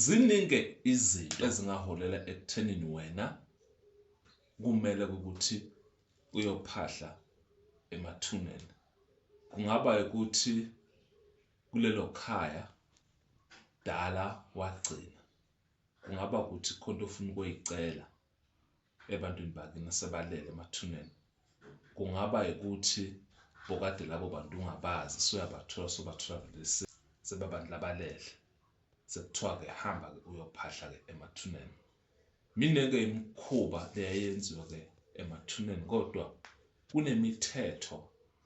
Ziningi-ke izinto ezingaholela ekuthenini wena kumele ukuthi uyophahla emathuneni. Kungaba ukuthi kulelo khaya dala wagcina, kungaba ukuthi khona ofuna ukuyicela ebantwini bakini asebalele emathuneni kungaba ukuthi bokade labo bantu ungabazi soyabathola sobathola vele sebabantu labalele sekuthiwa-ke hamba-ke uyophahla-ke emathuneni mine-ke imikhuba leyayenziwa-ke emathuneni kodwa kunemithetho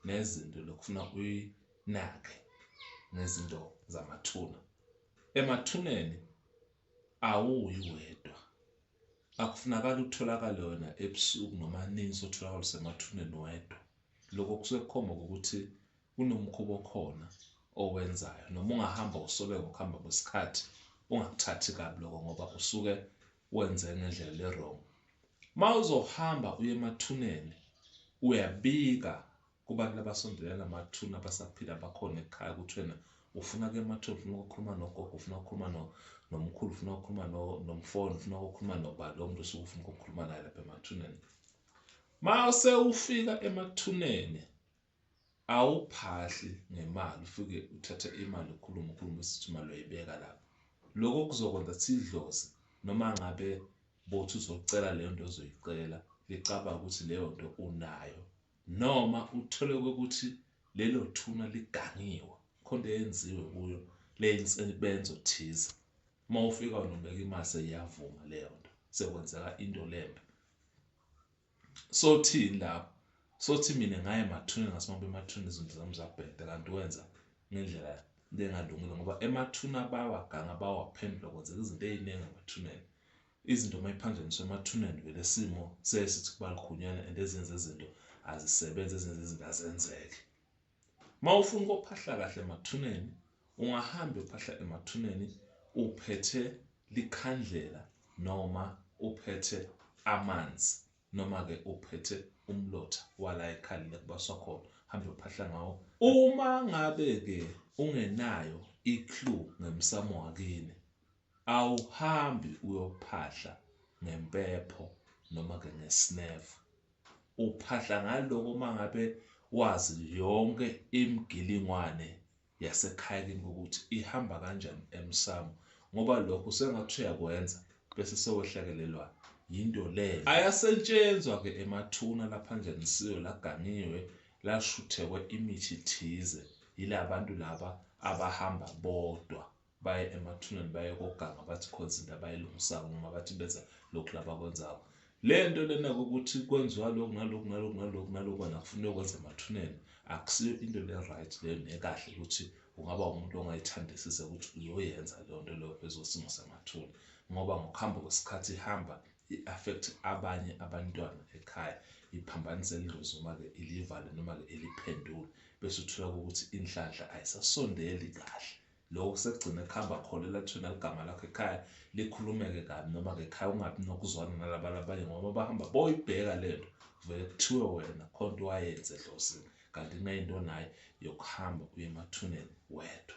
nezinto lokufuna uyinake ngezinto zamathuna emathuneni awuyi wedwa Akufunakali utholakale wena ebusuku noma nini sotholakala usemathuneni wedwa. Lokho kusuke kukhomba ukuthi kunomkhuba okhona owenzayo noma ungahamba usobeka ukuhamba kwesikhathi ungakuthathi kabi lokho ngoba usuke wenze ngendlela le-wrong. Uma uzohamba uye emathuneni uyabika Kubantu labasondelene namathuna abasaphila abakhona ekhaya kuthena ufuna ke mathuna ufuna ukukhuluma nogogo ufuna ukukhuluma no nomkhulu ufuna ukukhuluma no nomfowenu ufuna ukukhuluma nobani lo muntu osuke ufuna ukukhuluma naye lapha emathuneni ma sewufika emathuneni awuphahli ngemali ufike uthathe imali ukhulume ukhulume sithi imali uyibeka lapho lokho kuzokwenza sidloze noma ngabe bothi uzocela leyo nto ozoyicela licabanga ukuthi leyo nto unayo noma uthole ukuthi lelo thuna ligangiwe khonto eyenziwe kuyo leyinsebenzo thize uma ufika unobeka imali seyiyavuma leyo nto sekwenzeka into lembe sothini lapho sothi mina ngaye emathuneni ngasimambe emathuneni izinto zami zabheda kanti wenza ngendlela lengalungile ngoba emathuna bawagange bawaphendula kwenzeka izinto ey'ningi emathuneni Izinto mayiphanjaniswa emathuneni vele isimo siyaye sithi kubalukhunyanwa and ezinye zezinto azisebenzi ezinye zezinto azenzeki. Mawufuna ukophahla kahle emathuneni ungahamba uyophahla emathuneni uphethe likhandlela noma uphethe amanzi noma ke uphethe umlotha wala ekhalile kubaswa khona hambe uphahla ngawo. Uma ngabe ke ungenayo i-clue ngemsamo wakini Awuhambi uyophahla ngempepho noma ke ngesnefu. Uphahla ngaloko mangabe wazi yonke imigilingwane yasekhaya kini ukuthi ihamba kanjani emsamo ngoba lokho sengathi uyakwenza bese sewehlakelelwa yinto leyo. Ayasentshenzwa ke emathuna laphanjanisiwe laganiwe lashuthekwe imithi thize yilabantu laba abahamba bodwa. baye emathuneni baye koganga bathi khona izinto abayilungisako noma bathi benza lokhu labakwenzako le nto lena kokuthi kwenziwa lokhu nalokhu nalokhu nalokhu nalokhu wena kufuneka ukwenza emathuneni akusiyo into le-right leyo nekahle ukuthi ungaba umuntu ongayithandisise ukuthi uyoyenza leyo nto leyo phezulu simo samathuna ngoba ngokuhamba kwesikhathi ihamba i-affect abanye abantwana ekhaya iphambanise lidlozi noma-ke ilivale noma-ke iliphendule bese uthola ukuthi inhlanhla ayisasondeli kahle Lokhu sekugcine kuhamba khona elathini eligama lakho ekhaya likhulumeke kabi noma ngekhaya ungabi nokuzwana nalabantu abanye ngoba uma bahamba boyibheka le nto vele kuthiwe wena khona into wayenze edlozini kanti kuneyinto onayo yokuhamba uye emathuneni wedwa.